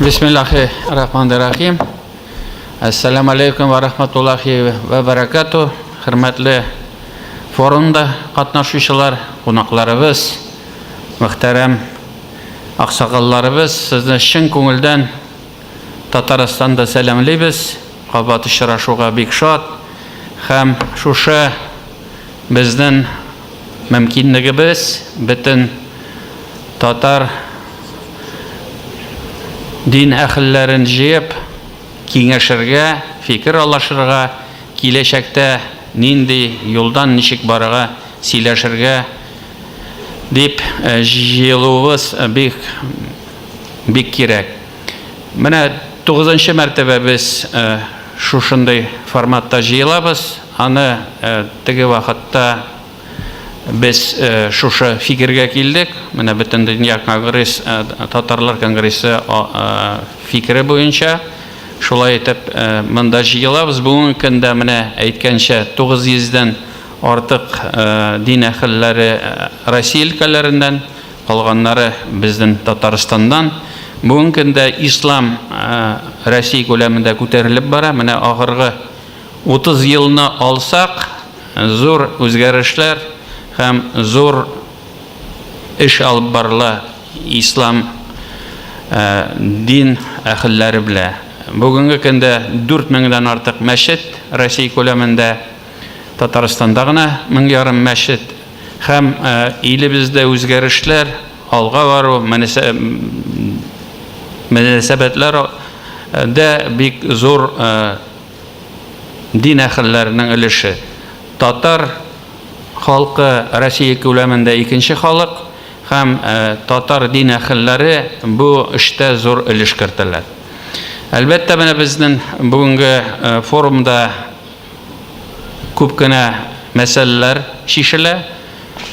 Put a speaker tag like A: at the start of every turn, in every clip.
A: Бисмиллахи рахманир рахим. Ассаламу алейкум ва рахматуллахи ва баракату. Хөрмәтле форумда катнашучылар, кунакларыбыз, мөхтәрәм аксакалларыбыз, сезне чын күңелдән Татарстанда сәламлибез. Кабат очрашуга бик шат һәм шушы безнең мөмкинлегебез бөтен татар дин әхелләрен җыеп киңәшергә, фикер алашырга, киләчәктә нинди юлдан ничек барырга сөйләшергә дип җыелуыбыз бик бик кирәк. Менә тугызынчы мәртәбә без шушындый форматта җыелабыз. Аны теге вакытта без шушы фикергә килдек. Менә бөтен дөнья конгресс, татарлар конгрессы фикере буенча шулай итеп монда җыелабыз. Бүгенге көндә менә әйткәнчә 900 дән артык дин әһелләре Россия өлкәләреннән Калганнары безнен Татарстаннан. Бүгенге көндә ислам Россия күләмендә күтәрелеп бара. Менә агыргы 30 елны алсак, зур үзгәрешләр һәм зур эш алып барыла ислам дин әхелләре белә. Бүгенге көндә 4000 дән артык мәчет Россия күләмендә, Татарстанда гына мең ярым мәчет. Һәм илебездә үзгәрешләр, алга бару, мөнәсәбәтләр дә бик зур дин әһелләренең өлеше. Татар халкы Россия күләмендә икенче халык һәм татар дин әһелләре бу эштә зур өлеш кертәләр. Әлбәттә, менә безнең бүгенге форумда күп кенә мәсьәләләр чишелә.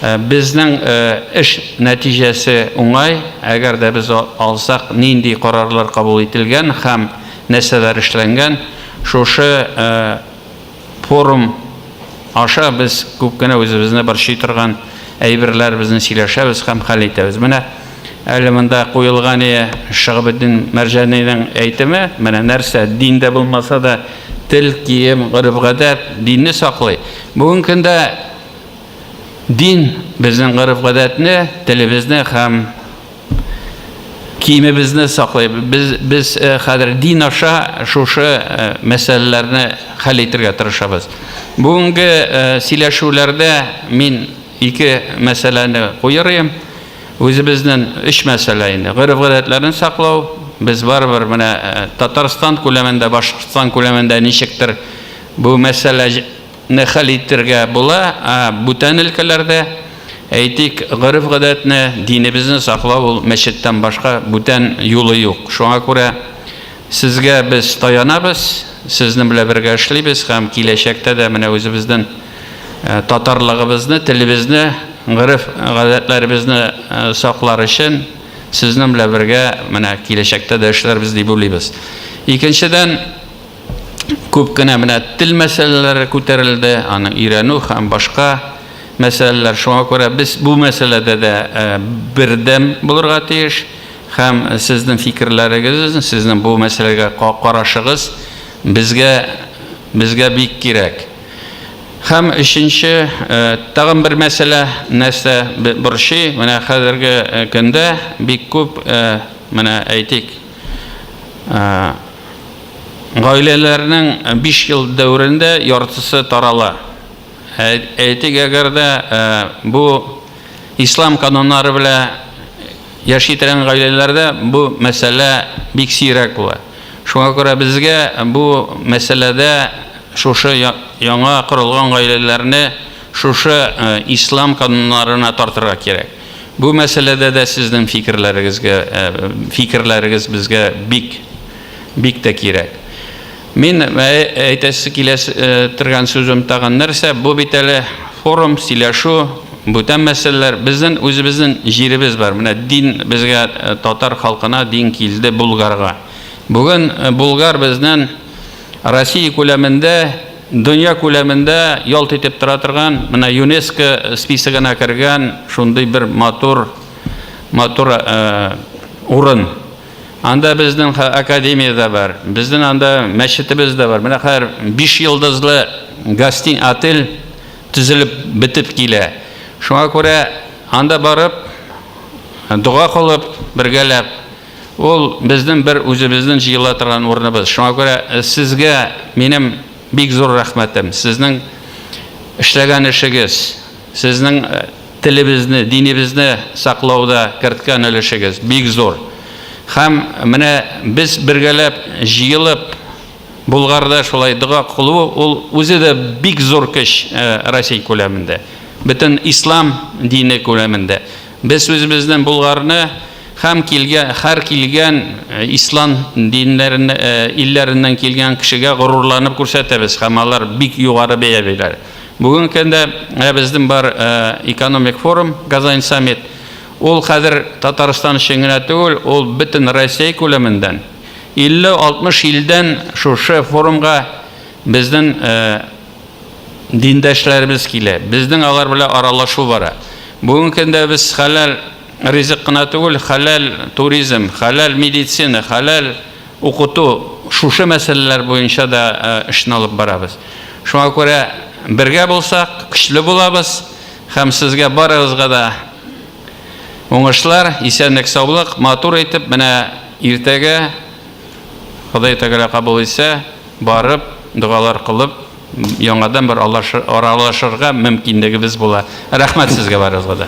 A: Э, безнең э, эш нәтиҗәсе уңай, әгәр дә без алсак, нинди карарлар кабул ителгән һәм нәрсәләр эшләнгән, шушы э, форум аша без күп кенә үзебезне борчый торган әйберләр безне сөйләшәбез һәм хәл итәбез. Менә Әле монда Куелгания Шиһабетдин Мәрҗанинең әйтеме, менә нәрсә, дин дә булмаса да, тел, кием, гореф-гадәт динне саклый. Бүгенге көндә дин безнең гореф-гадәтне, телебезне һәм киемебезне саклый. Без, без э, хәзер дин аша шушы э, мәсьәләләрне хәл итәргә тырышабыз. Бүгенге э, сөйләшүләрдә мин ике мәсьәләне куерыйм. Үзебезнен өч мәсьәлә инде. Гореф-гадәтләрне саклау, без барыбер менә Татарстан күләмендә, Башкортстан күләмендә ничектер бу мәсьәлә не хәл итергә була, ә бүтән өлкәләрдә, әйтик, гореф-гадәтне, динебезне саклау ул мәчеттән башка бүтән юлы юк. Шуңа күрә сезгә без таянабыз, сезнен белә бергә эшлибез һәм киләчәктә дә менә үзебезнен Татарлыгыбызны, телебезне, гореф, гадәтләребезне саклар өчен сезнең белән бергә менә киләчәктә дә эшләрбез дип уйлыйбыз. Икенчедән, күп кенә менә тел мәсьәләләре күтәрелде, аны өйрәнү һәм башка мәсьәләләр. Шуңа күрә без бу мәсьәләдә дә бердәм булырга тиеш һәм сезнең фикерләрегез, сезнең бу мәсьәләгә карашыгыз безгә безгә бик кирәк. Һәм өченче, тагын бер мәсьәлә, нәрсә борчый, менә хәзерге көндә бик күп, менә әйтик, гаиләләрнең 5 ел дәверендә яртысы тарала. Әйтик, әгәр дә бу Ислам кануннары белә яши торган гаиләләрдә бу мәсьәлә бик сирәк була. Шуңа күрә безгә бу мәсьәләдә шушы яңа корылган гаиләләрне шушы э, ислам кануннарына тартырга кирәк. Бу мәсьәләдә дә сезнең фикерләрегезгә э, фикерләрегез безгә бик бик тә кирәк. Мин әйтәсе килә торган сүзем тагын нәрсә, бу бит әле форум, сөйләшү, бүтән мәсьәләләр. Безнең үзебезнең җиребез бар. Менә дин безгә, татар халкына дин килде Булгарга. Бүген Булгар безнең Россия күләмендә, дөнья күләмендә ялт итеп тора торган, менә ЮНЕСКО списогына кергән шундый бер матур матур урын. Анда безнең академия дә бар, безнең анда мәчетебез дә бар. Менә хәзер биш йолдызлы гостин отель төзелеп бетеп килә. Шуңа күрә анда барып, дога кылып, бергәләп, ул безнең бер үзебезнең җыела торган урыныбыз. Шуңа күрә э, сезгә минем бик зур рәхмәтем. Сезнең эшләгән эшегез, сезнең э, Телебезне, динебезне саклауда керткән өлешегез бик зур. Һәм менә без бергәләп җыелып Болгарда шулай дога кылу, ул үзе дә бик зур көч Россия күләмендә. Бөтен ислам дине күләмендә. Без үзебезнең Болгарны һәм килгән, һәр килгән ислам диннәрен, илләреннән килгән кешегә горурланып күрсәтәбез һәм алар бик югары бәя бирәләр. Бүгенге көндә ә, безнең бар ә, экономик форум Казань саммит. Ул хәзер Татарстан өчен генә түгел, ул бөтен Россия күләмендән 50-60 илдән шушы форумга безнең ә, диндәшләребез килә. Безнең алар белән аралашу бара. Бүгенге көндә без хәләл ризык кына түгел, хәләл туризм, хәләл медицина, хәләл Укыту, шушы мәсьәләләр буенча да эшне алып барабыз. Шуңа күрә бергә булсак, көчле булабыз һәм сезгә барыгызга да уңышлар, исәнлек-саулык, матур итеп менә иртәгә, Ходай Тәгалә кабул итсә, барып, догалар кылып, яңадан бер аралашырга мөмкинлегебез була. Рәхмәт сезгә барыгызга да.